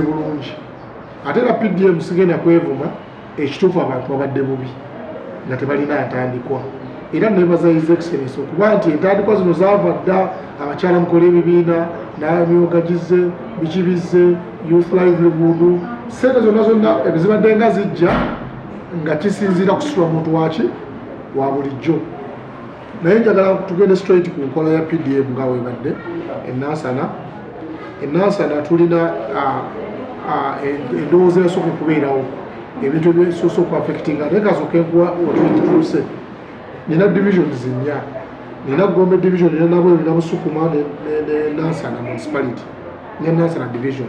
bulungi ate era pdm sigenda kwevuma ekituufu abantu babadde bubi nga tebalina ntandikwa era nebaza his excellence okuba nti entandikwa zino zaava dda abakyala mukola ebibiina namyoga gize biki bizze youth livelihood sente zonna zonna ebizibadde nga zijja nga kisinziira kusitula muntu waki wa bulijjo naye njagala tugende straight ku nkola ya pdm nga webadde enansana enansana tulina endowooza yasooka okubeerawo ebintu ebisoosa okuaffectinga naye kasoka enkuwa otutuuse nina divisions nnya nina gombe division nina nabwe nina busukuma nenansana municipality nenansana division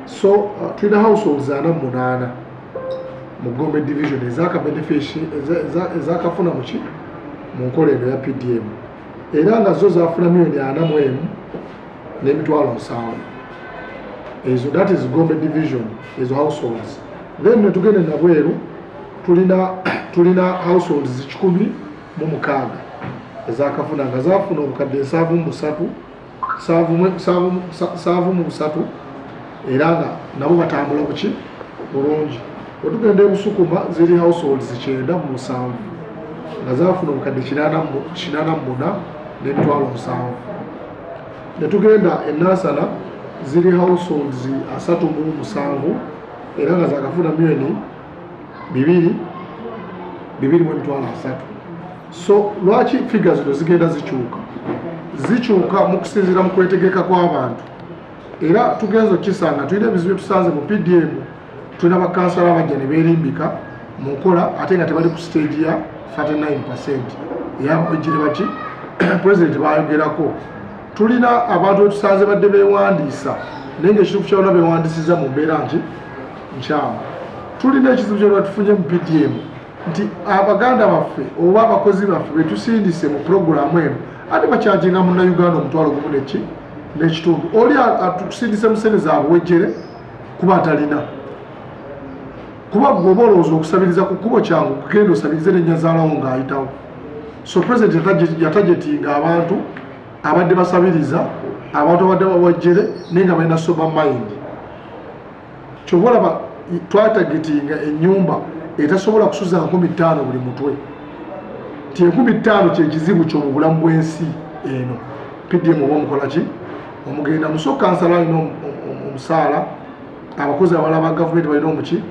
so uh, tulina households ana munaana mu gombe division ezaka benefici ezakafuna muki mu nkola eno ya pdm era nga zo zafuna milioni ana mu emu n'emitwalo nsanvu ezo that is gombe division ezo households then netugende nabweru tulina tulina households zikikumi mu mukaaga ezakafuna nga zafuna obukadde nsanvu mu busatu saavu mu busatu era nga nabo batambula kuki bulungi wetugenda ebusukuma ziri households kyenda mu musanvu nga zafuna obukadde kinana mu muna n'emitwalo musanvu netugenda enasala ziri households asatu mu musanvu era nga zakafuna myoni bibiri bibiri mu emitwalo asatu so lwaki figa zino zigenda zikyuka zikyuka mu kusinziira mu kwetegeka kw'abantu era tugenza okukisanga tulina ebizibu byetusanze mu pdm tulina bakansala abajja ne beerimbika mu nkola ate nga tebali ku siteegi ya 39 percent eyabajire baki pulezidenti bayogerako tulina abantu betusanze badde bewandiisa naye nga ekituufu kyalona bewandisiza mu mbeera nti nkyamu tulina ekizibu kyalona tufunye mu pdm nti abaganda baffe oba abakozi baffe betusindise mu pulogulaamu eno ate bakyajinga munnayuganda omutwalo gumu neki n'ekitundu oli atusindise mu sente zabuwejjere kuba atalina kuba gweoba olowooza okusabiriza ku kkubo kyangu kugenda osabirize nenyazaalawo ng'ayitawo so president yatajetinga abantu abadde basabiriza abantu abadde bawejjere naye nga balina sober mind kyova olaba twatagitinga enyumba etasobola kusuza nkumi ttaano buli mutwe ti enkumi ttaano kyekizibu kyo mu bulamu bwensi eno pdm oba omukola ki omugenda musoka kansala alina omusaala abakozi abala ba gavumenti balina omuki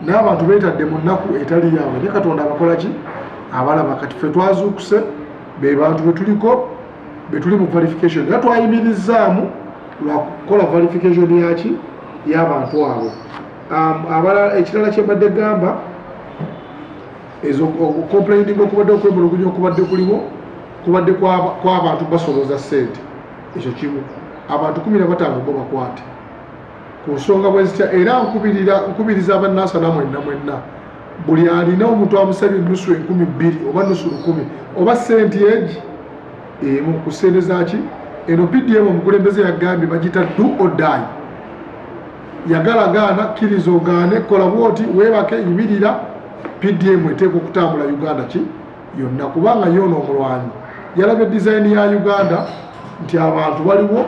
naye abantu betadde mu nnaku etali yaabwe ne katonda abakola ki abalaba kati fe twazuukuse be bantu betuliko betuli mu verification era twayimirizaamu lwakukola verification yaki yabantu abo um, abalala ekirala kyembadde gamba ezo complaining okubadde okwemulugunya okubadde kuliwo kubadde kwabantu basoloza sente ekyo kimu abantu kumi nabataano bo bakwate ku nsonga bwezitya era nkubiriza abanaasa namwenna mwenna buli alina omuntu amusabye ennusu enkumi bbiri oba nusu lukumi oba senti egi emu ku sente zaki eno pdm omukulembeze yagambye bagita du odayi yagala gaana kkiriza ogaane kola bwoti weebake yimirira pdm eteeka okutambula uganda ki yonna kubanga yoona omulwanyi yalabye dizayini ya uganda nti abantu baliwo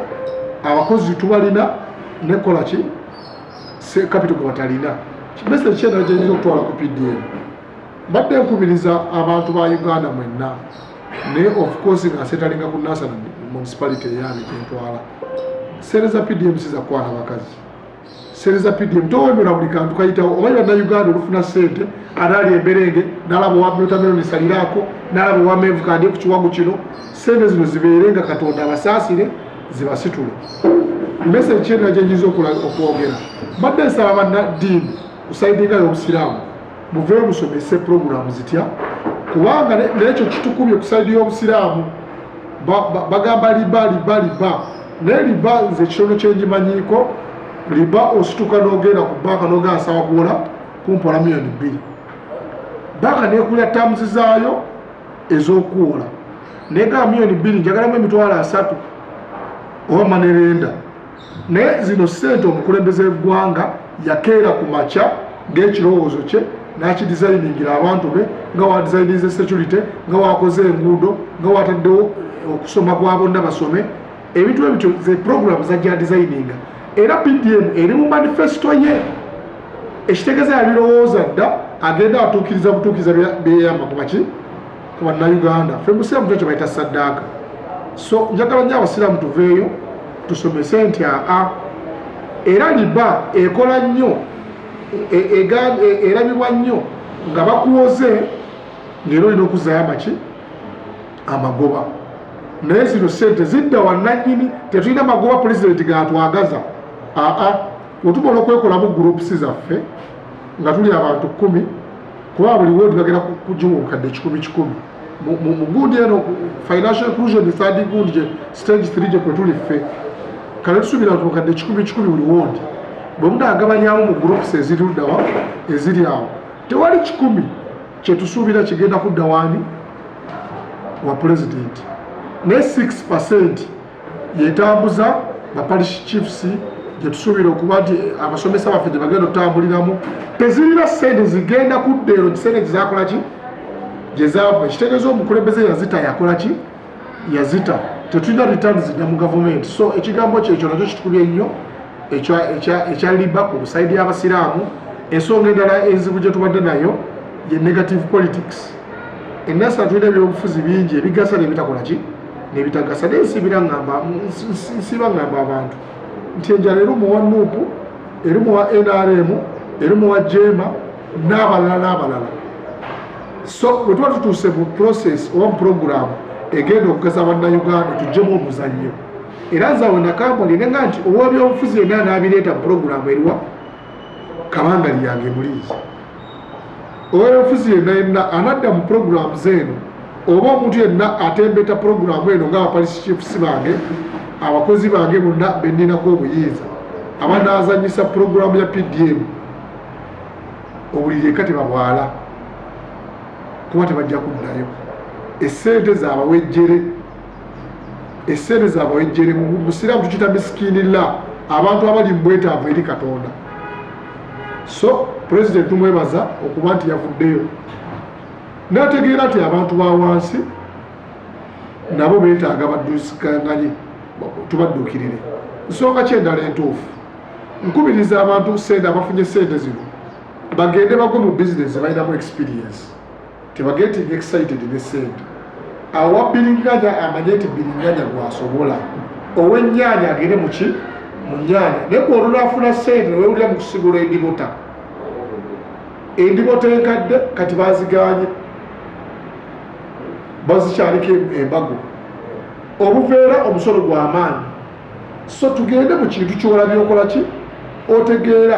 abakozi tubalina nekola ki se kapito gwe batalina message kyendala gyenyina okutwala ku pdm mbadde nkubiriza abantu ba uganda mwenna naye of course nga setalinga ku nasana municipality eyange kyentwala sente za pdm sizakwana bakazi sente za pdm towemera buli kantu kayitawo omanyi bannauganda olufuna sente anaali emberenge nalaba owa blotameroni saliraako nalaba owa mevu kandye ku kiwago kino sente zino zibeere nga katonda abasaasire zibasitule mese ekyenda kyenyiza okwogera mbadde nsaba bannaddiini kusaidinga y'obusiraamu muve musomese pulogulaamu zitya kubanga nekyo kitukubye kusaidi y'obusiraamu bagamba liba liba liba naye liba nze ekisono kyenjimanyiiko liba osituka n'ogenda ku banka n'ogenda nsaba kuwola kumpola miyoni bbiri banka nekulya tamuzi zaayo ez'okuwola naye ga miyoni bbiri njagalamu emitwalo asatu oba manerenda naye zino sente omukulembeze w'eggwanga yakeera ku makya ng'ekirowoozo kye n'akidizayiningira abantu be nga wadizayinize security nga wakoze enguudo nga wataddewo okusoma kwa bonna basome ebintu ebityo ze program zajja designinga era pdm eri mu manifesto ye ekitegeza yabirowooza dda agenda atuukiriza butuukiriza byeyamba kubaki ku bannayuganda fe musiraamu tyo kyebayita saddaaka so njagala nyo abasiraamu tuveeyo tusomese nti aa era liba ekola nnyo e, e, e, erabibwa nnyo nga bakuwoze ngaera olina okuzzayo amaki amagoba naye zino sente zidda wananyini tetulina magoba pulezidenti gatwagaza aa otubola okwekolamu groups zaffe nga tuli abantu kumi kuba buli wodi bagenda kujiwa obukadde kikumi kikumi mugundi eno financial inclusion third gundi gye stage three gye kwetuli ffe kale tusubira nti obukadde kikumi kikumi buli wodi bwe munagabanyamu mu groups eziri ludawa eziri awo tewali kikumi kyetusuubira kigenda kudda waani wa pulezidenti ne 6 percent yetambuza baparish chiefs gyetusuubira okuba nti eh, abasomesa baffe gye bagenda otutambuliramu tezirina sente zigenda kudda ero kiseera gyezakolaki gye zaava ekitegeeza omukulembeze yazita yakolaki yazita tetulina returns zidda mu gavumenti so ekigambo kyekyo nakyo kitukubye nnyo ekya liba ku busaidi y'abasiraamu ensonga endala enzibu gye tubadde nayo ye negative politics enasi atulina ebyobufuzi bingi ebigasa nebitakola ki nebitagasa naye nsibira ngamba nsiba ngamba abantu nti enjala erimu wa nuupu erimu wa nrm erimu wa jeema n'abalala n'abalala so bwe tuba tutuuse mu process oba mu puroguramu egenda okugasa bannayuganda tujjemu omuzannyo era nzawe nakampuni nenga nti owabyobufuzi yenna anabireeta mu puroguramu eriwa kabanga lyange muliizi owebyobufuzi yenna yenna anadda mu puroguramu zeeno oba omuntu yenna atembeta puroguramu eno nga abapolisi chiefs bange abakozi bange bonna benninako obuyinza abanazanyisa puroguramu ya pdm owulire eka tebabwala kuba tebajja kuddayo esente zabawejjere esente zabawejjere musiraamu tukita misikinilla abantu abali mubwetaavu eri katonda so president tumwebaza okuba nti yavuddeyo nategeera nti abantu ba wansi nabo betaaga baddusikanganye tubadduukirire nsonga kyendala entuufu nkubiriza abantu sente abafunye sente zino bagende bagwe mu bizinesi balinamu experience tebageting excited ne sente awa biringanya amanye nti biringanya gwasobola owenyanya agende muki mu nyanya naye gwolunafuna sente newewulira mu kusigula endibota endibota enkadde kati baziganye bazikyaliko embago obuveera omusolo gwamaanyi so tugende mu kintu kyola byokola ki otegeera